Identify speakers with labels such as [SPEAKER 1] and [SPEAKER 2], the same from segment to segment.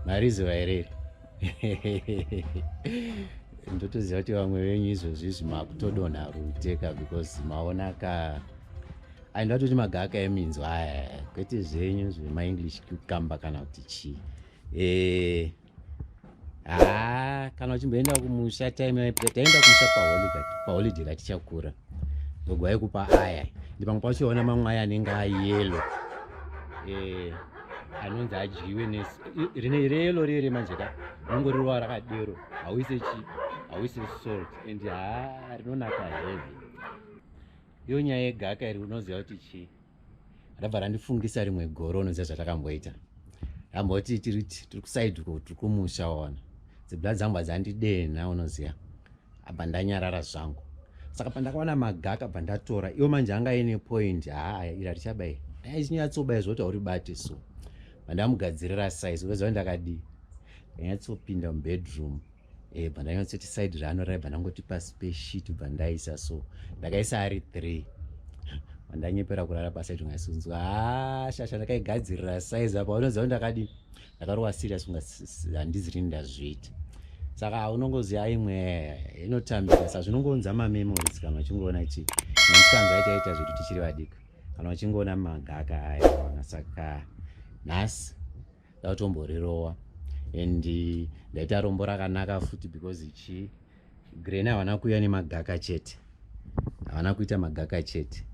[SPEAKER 1] mariziva here iri ndotoziva kuti vamwe venyu izvozvi izvi makutodonha ruteka because maona ka ai ndatoti magaka eminzwa aya kwete zvenyu zvemaenglish kukamba kana kuti chii ee eh, haa ah, kana uchimboenda kumusha time yaipita taenda kumusha paholiday katichakura gogo aikupa aya ndi pamwe pachiona mamwe aya anenge ayelo eh, anonzi adyiwe rine reyelo rere manje ka rinongo rirova rakadero hauise chi hauise salt and haa rinonaka heavy iyo nyaya yegaka iri unoziva kuti chii rabva randifungisa rimwe goro unoziva zvatakamboita ramboti tiri tiri kusaidi ko tiri kumusha ona dzibla dzangu adzandidenha unoziva abva ndanyarara zvangu saka pandakaona magaka bva ndatora iwo manje anga ine point haa ira richabai dai chinyatsoba izvo kuti hauribate so vandamugadzirira size ukaziva ndakadii ndanyatsopinda mubedroom eh, bva ndanyatsoita side raanorai bva ndangoti pasi peshit bva ndaisa so ndakaisa ari three ndanyepera kurara pasi aiti ngasunzwa ah, shasha ndakaigadzirira size apa unoziva kuti ndakadi ndakarowa serious kunga handizi rini ndazviita saka unongoziva imwe inotambira sa zvinongounza mamemories kana uchingoona kuti nemikanzwa aitaita zvedu tichiri vadiki kana uchingoona magaka aya ona saka nhasi ndautomborirowa and ndaita rombo rakanaka futi because chii green havana kuuya nemagaka chete havana kuita magaka chete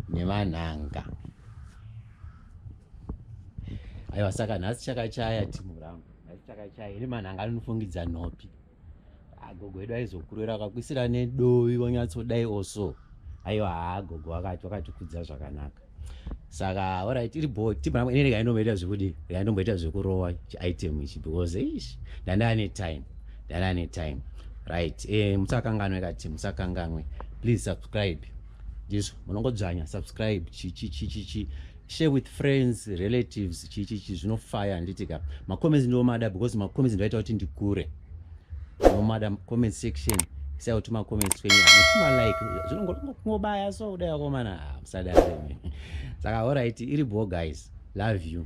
[SPEAKER 1] nevanhanga aiwa saka nhasi chakachaya timu rangu nhasi chakachaya iri manhanga anonofungidza nhopi agogo edu aizokurera akakuisira nedovi wanyatsodai oso aiwa haa gogo wakati wakatikudza zvakanaka saka orit iri bo tibaa ine rega indomboita zvekudi rega indomboita zvekurova chiitem ichi because ish ndanda ane time ndanda ane time right e eh, musakanganwe kati musakanganwe please subscribe ndizvo munongodzvanya subscribe chichichichichi share with friends relatives chichichi zvinofaya handiti ka macomments ndiomada because macomments ndoaita kuti ndikure nomada comment section sai kuti macomments kwenyu hamuchimalike zvinongobaya so kudai akomana ah, musadare saka horaiti iri bo guys love you